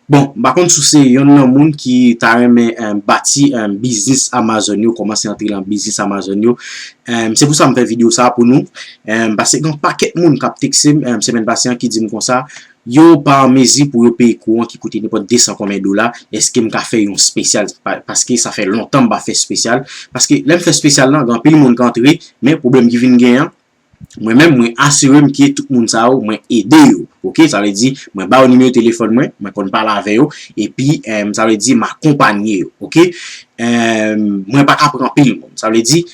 Bon, m pa konn si w se yonn nan moun ki ta renmen bati biznis Amazon yo, kòmanse antre nan biznis Amazon yo, se pou sa m fè videyo sa a pou nou. Pase gen yon pakèt moun k ap tekse m semèn pase an ki di m konsa, yo pa an mezi pou yo peye kouran ki koute nenpòt 200 konbyen dola, èske m ka fè yon spesyal? Paske sa fè lontan m pa fè spesyal. Paske lè m fè spesyal lan, gen anpil moun k antre, men pwoblèm ki vin gen an, Mwen menm mwen asire m ke tout moun sa yo mwen ede yo ok sa vle di mwen ba yo nimewo telefòn mwen, mwen konn pale avè yo epi sa vle di m akonpanye yo ok mwen pa ka pran anpil moun sa vle di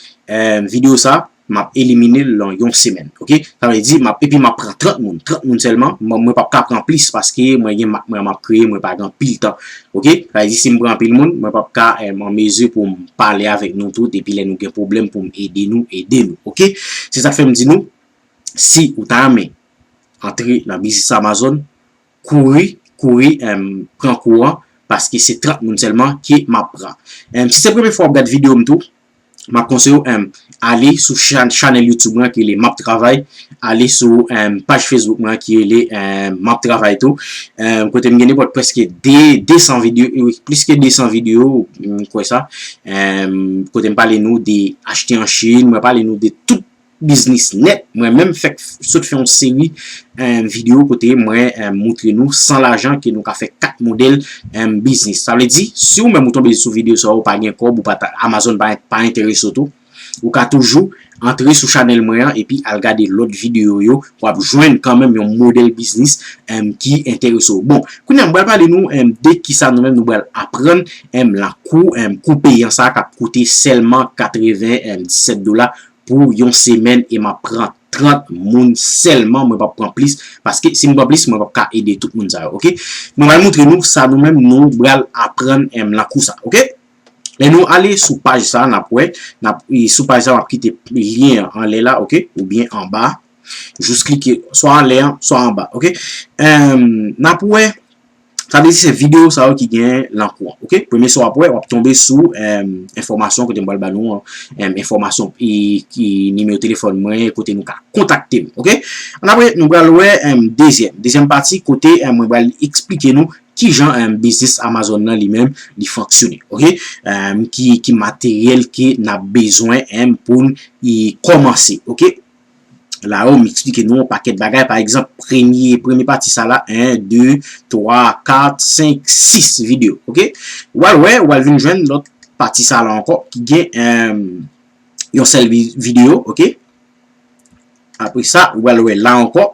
videyo sa m ap elimine l lan yon semèn ok sa vle di m ap epi m ap pran 30 moun 30 moun sèlman mwen pap ka pran plis paske mwen gen mak mwen m ap kreye mwen pa gen anpil tan Ok, sa vle di si m pran anpil moun, mwen p ap ka an mezi pou m pale avèk nou tout epi lè nou gen pwoblèm pou m ede nou, ede nou. Ok, se sa k fè m di nou, si ou ta renmen antre nan biznis Amazon, kouri, kouri pran kou an, paske se 30 moun sèlman ke m ap pran. Si se premye fwa w ap gad videyo m tou, Map konseye w em ale sou chanel youtube mwen ki rele map travay ale sou em paj facebook mwen ki rele em map travay tou em kote m gen nepot preske 200 video e plis ke 200 video m kwe sa em kote m pale nou de achte an chine mwen pale nou de tout biznis nèt, mwen menm fèk sot fè yon seri video kote mwen moutre nou san lajan ke nou ka fè 4 modèl biznis. Sa vle di, si ou menm ou tonbe sou video sa ou pa gen kòb, Amazon pa enterese ou tou, ou ka toujou antre sou chanèl mwen an epi al gade lòt video yo, wap jwenn kan menm yon modèl biznis ki enterese ou. Bon, kounye a m pral pale nou de kisa nou menm nou pral aprann lan kou, kou peyan sa kap koute sèlman 97 dola pou yon semèn e map pran 30 moun sèlman mwen pap pran plis paske si m pran plis mwen pap ka ede tout moun sa yo ok mwen pral moutre nou sa nou menm nou pral aprann m nan kou sa ok lè nou ale sou paj sa nap wè nap sou paj sa map kite lyen an anlè la ok ou byen anba jous klike swa anlè an swa anba ok nap wè Sa vle di se videyo sa yo ki gen lan kou an. Ok? Premye sa w ap wè, w ap tonbe sou enfòmasyon kote m pral ba nou an. Enfòmasyon ki nimewo telefòn mwen, kote nou ka kontakte m. Ok? An apre, nou pral wè dezyèm. Dezyèm pati kote mwen pral eksplike nou ki jan biznis Amazon nan li menm li fonksyone. Ok? Ki materyèl ke n ap bezwen pou n kòmanse. Ok? la yo m eksplike nou yon pakèt bagay pa egzanp premye premye pati sa la 1 2 3 4 5 6 video ok w al wè w al vin jwenn lòt pati sa la ankò ki gen yon sèl video ok apre sa w al wè la ankò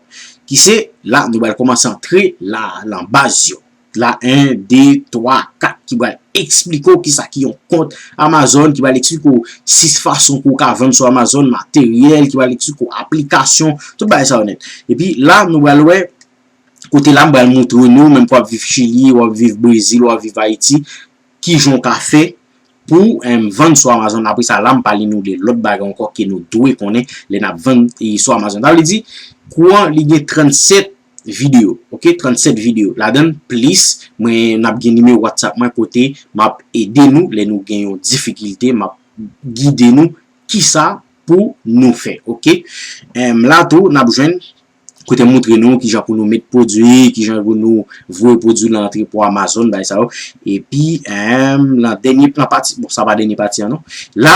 ki se la nou bal komanse antre la lan baz yo. la 1, 2, 3, 4 ki bal eksplike ou ki sa ki yon kont Amazon, ki bal eksplike ou 6 fason pou ou ka vann sou Amazon, materyèl, ki bal eksplike ou aplikasyon, tout bagay sa yo nèt. E pi la nou bal wè, kote la m bal moutre nou, menm kwa ap viv Chili, ou ap viv Brezil, ou ap viv Ayiti, ki jan ou ka fè pou vann sou Amazon. Apre sa la m pale nou de lòt bagay ankò ke nou dwe konnen lè n ap vann sou Amazon. Sa vle di, kouran li gen 37. video ok 37 video ladann plis mwen nap gen nimewo whatsapp mwen kote map ede nou lè nou gen yon difikilte map gide nou kisa pou nou fè ok la tou nap jwenn kote m moutre nou kijan pou nou met pwodwi kijan pou nou voye pwodwi lan antre pou amazon bay sa yo epi lan dènye plan pati bon sa pa dènye pati an non la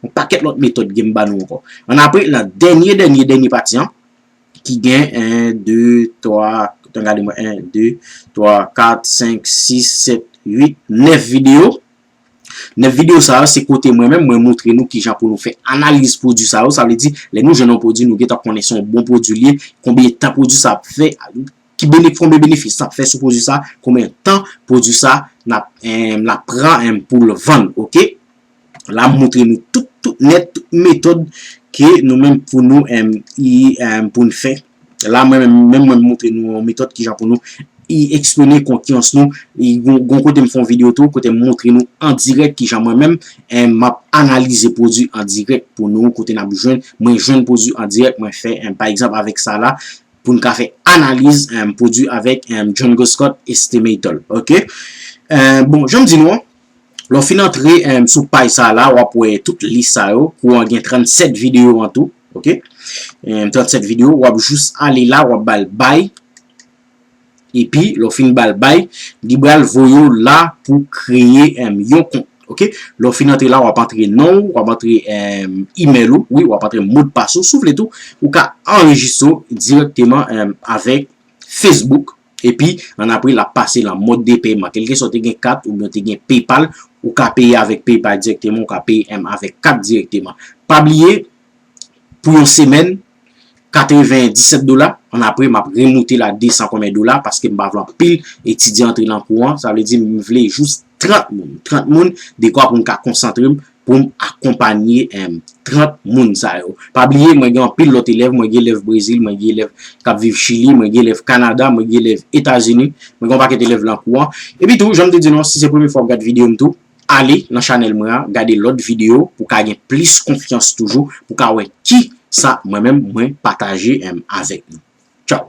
Yon pakèt lòt metòd gen m ba nou ankò. An apre, nan dènye dènye dènye pati an, ki gen 1, 2, 3, tan gade mwen, 1, 2, 3, 4, 5, 6, 7, 8, 9 videyo. 9 videyo sa yo, se kote mwen menm, mwen montre nou ki jan pou nou fè analiz pwodui sa yo. Sa vle di, lè nou jwenn yon pwodui, nou gen tan konnen se yon bon pwodui li ye, konbyen tan pwodui sa ap fè, ki benefis, konbyen benefis sa ap fè sou pwodui sa, konbyen tan pwodui sa ap pran pou l vann, ok. la m montre nou tout tout nèt tout metòd ke nou menm pou nou pou n fè la mwen menm mwen montre nou yon metòd kijan pou nou eksprime konkyans nou gon kote m fè yon video tou kote m montre nou an dirèk kijan mwen menm m ap analize pwodwi an dirèk pou nou kote n ap jwenn mwen jwenn pwodwi an dirèk mwen fè pa egzanp avèk sa la pou n ka fè analiz pwodwi avèk John Goscott Estimator ok bon jan m di nou an Lè w fin antre sou paj sa la, w ap wè tout lis sa yo. Kou an gen 37 videyo an tou. Ok. 37 videyo. W ap jous ale la, w ap ba l bay. E pi, lè w fin ba l bay, li ba l voye w la pou kreye yon kont. Ok. Lè w fin antre la, w ap antre non ou, w ap antre email ou. Wi, w ap antre mot pas ou. Sou vle tou, ou ka anrejistre w direkteman avèk Facebook. Epi, an apre l ap pase lan mòd de pèyman. Kèlkeswa w te gen kat oubyen w te gen PayPal, ou ka peye avèk PayPal dirèkteman, ou ka peye em avèk kat dirèkteman. Pa bliye, pou yon semèn, 97 dola, an apre m ap remoute l a 200 konbyen dola, paske m pa vle anpil etidyan antre lan kou an, sa vle di m vle jous 30 moun. 30 moun, dekwa pou m ka konsantre m poum akonpanye 30 moun sa yo. Pa bliye mwen gen anpil lòt elèv, mwen gen elèv Brezil, mwen gen elèv kap viv Chili, mwen gen elèv Kanada, mwen gen elèv Etazini, mwen gen yon pakèt elèv lan kou an. Epi tou, janm te di nou an, si se premye fwa wap gad videyo m tou, ale nan chanèl mwen an, gade lòt videyo pou ka gen plis konfyans toujou, pou ka wè kisa mwen menm mwen pataje avèk nou. Tchaw!